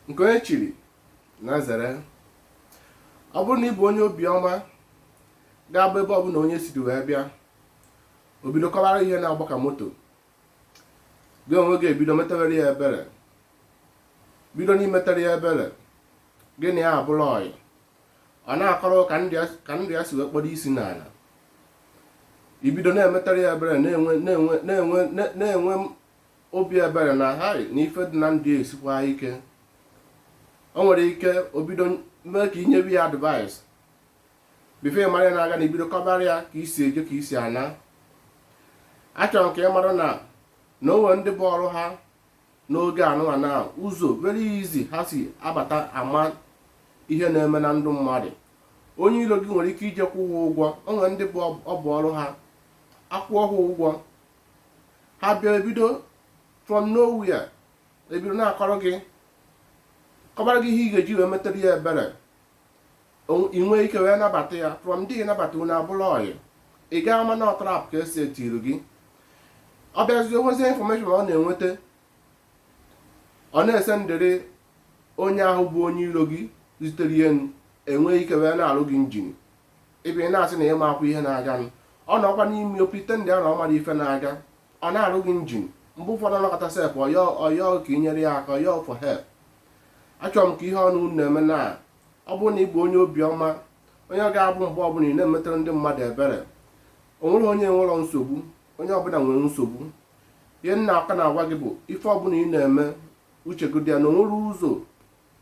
nke onye chiri ya zere ọ bụrụ na ị bụ onye obiọma ga-abụ ebe ọbụla onye siri wee bịa o bido kọwara ihe na-agba ka moto gị onwe gị ebido metawere ya ebere bido na-emetere ya ebere gị na ya abụrụ ọyị ọ na-akọrọ ka ndụ ya si wee kpodo isi n'ala i bido na-emetara ya ebere na-enwe obi ebere na hai na ife dị na ndụ ya esikwa ike o nwere ike o bido mee ka i nyewe ya advice before ị mara na-aga na i bido kọbara ya ka i si eje ka i si ana achọrọ m ka ị mara na na o nwere ndị bụ ọrụ ha n'oge anụwa na ụzọ very easy ha si abata ama ihe na-eme na ndụ mmadụ onye iro gị nwere ike ije kwụọ ha ụgwọ o nwere ndị bụ ọ bụ ọrụ ha akwụọ ha ụgwọ ha bịa ebido from nowhere ebido na-akọrọ gị kọbara gị ihe ị ga-eji wee metere ya ebere ị nwee ike wee nabata ya from there nabata unu abụrụ ọyị ị gaa ama na ọ trap ka e setiri gị ọ bịazi o nwezie information ọ na-enweta ọ na-esendịrị onye ahụ bụ onye iro gị zitere ya enwee ike wee na-arụ gị njin ebe ị na-asị na ị maakwa ihe na-aganụ ọ nọkwa n'ime o pretendịa na ọ mara ife na-aga ọ na-arụ gị njin mgbe ụfọdụ ọ nọkata sef ọ yọọ ọ yọọ ka ị nyere ya aka ọ yọọ for help achọrọ m ka ihe ọbụla unu na-eme na ọ bụrụ na ị bụ onye obiọma onye ọ ga-abụ mgbe ọbụla ị na-emetara ndị mmadụ ebere o nwere onye nwere nsogbu onye ọbụla nwere nsogbu ihe m na-aka na-agwa gị bụ ife ọbụla ị na-eme uche gị dị ya na o nwere ụzọ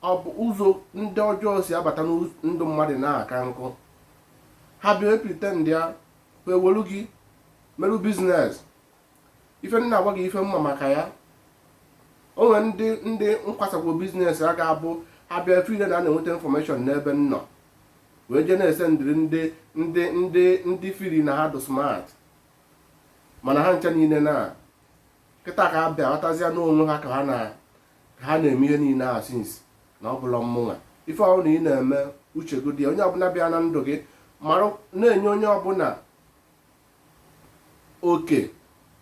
ọ bụ ụzọ ndị ọjọọ si abata ndụ mmadụ na-aka nkụ ha bịa epretendịa ewelu gị merụ business ife m na-agwa gị ife m ma maka ya o nwere ndị ndị nkwasakwo business a ga-abụ ha bịa efeel na na-enweta information n'ebe m nọ wee jee na-esendịrị ndị ndị ndị ndị feel na ha dị smart mana ha ncha niile na kịta ka ha bịa ghọtazịa na onwe ha ka ha na ha na-eme ihe niile a since na ọ bụla mmụnwa ife ọbụla ị na-eme uche gị dị ya. onye ọbụla bịa na ndụ gị mara na-enye onye ọbụla oke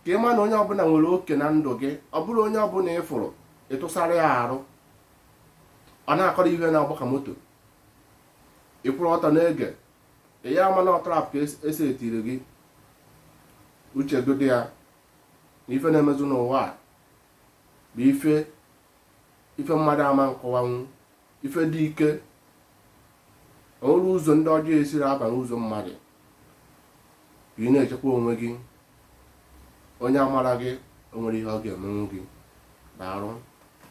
ka ị ma na onye ọbụla nwere oke na ndụ gị ọ bụrụ onye ọbụla ị fụrụ ị tụsara ya arụ ọ na-akọrọ ihe na-agba ka moto ị kwụrụ ọtọ na-ege ị ya ama na ọ trap ka e setiri gị uche gị dị ya na ife na-emezi n'ụwa a bụ ife ife mmadụ ama nkọwanwu ife dị ike o nwere ụzọ ndị ọjọọ esiri aba n'ụzọ mmadụ ka ị na-echekwa onwe gị onye amara gị o nwere ihe ọ ga-emenwu gị daalụ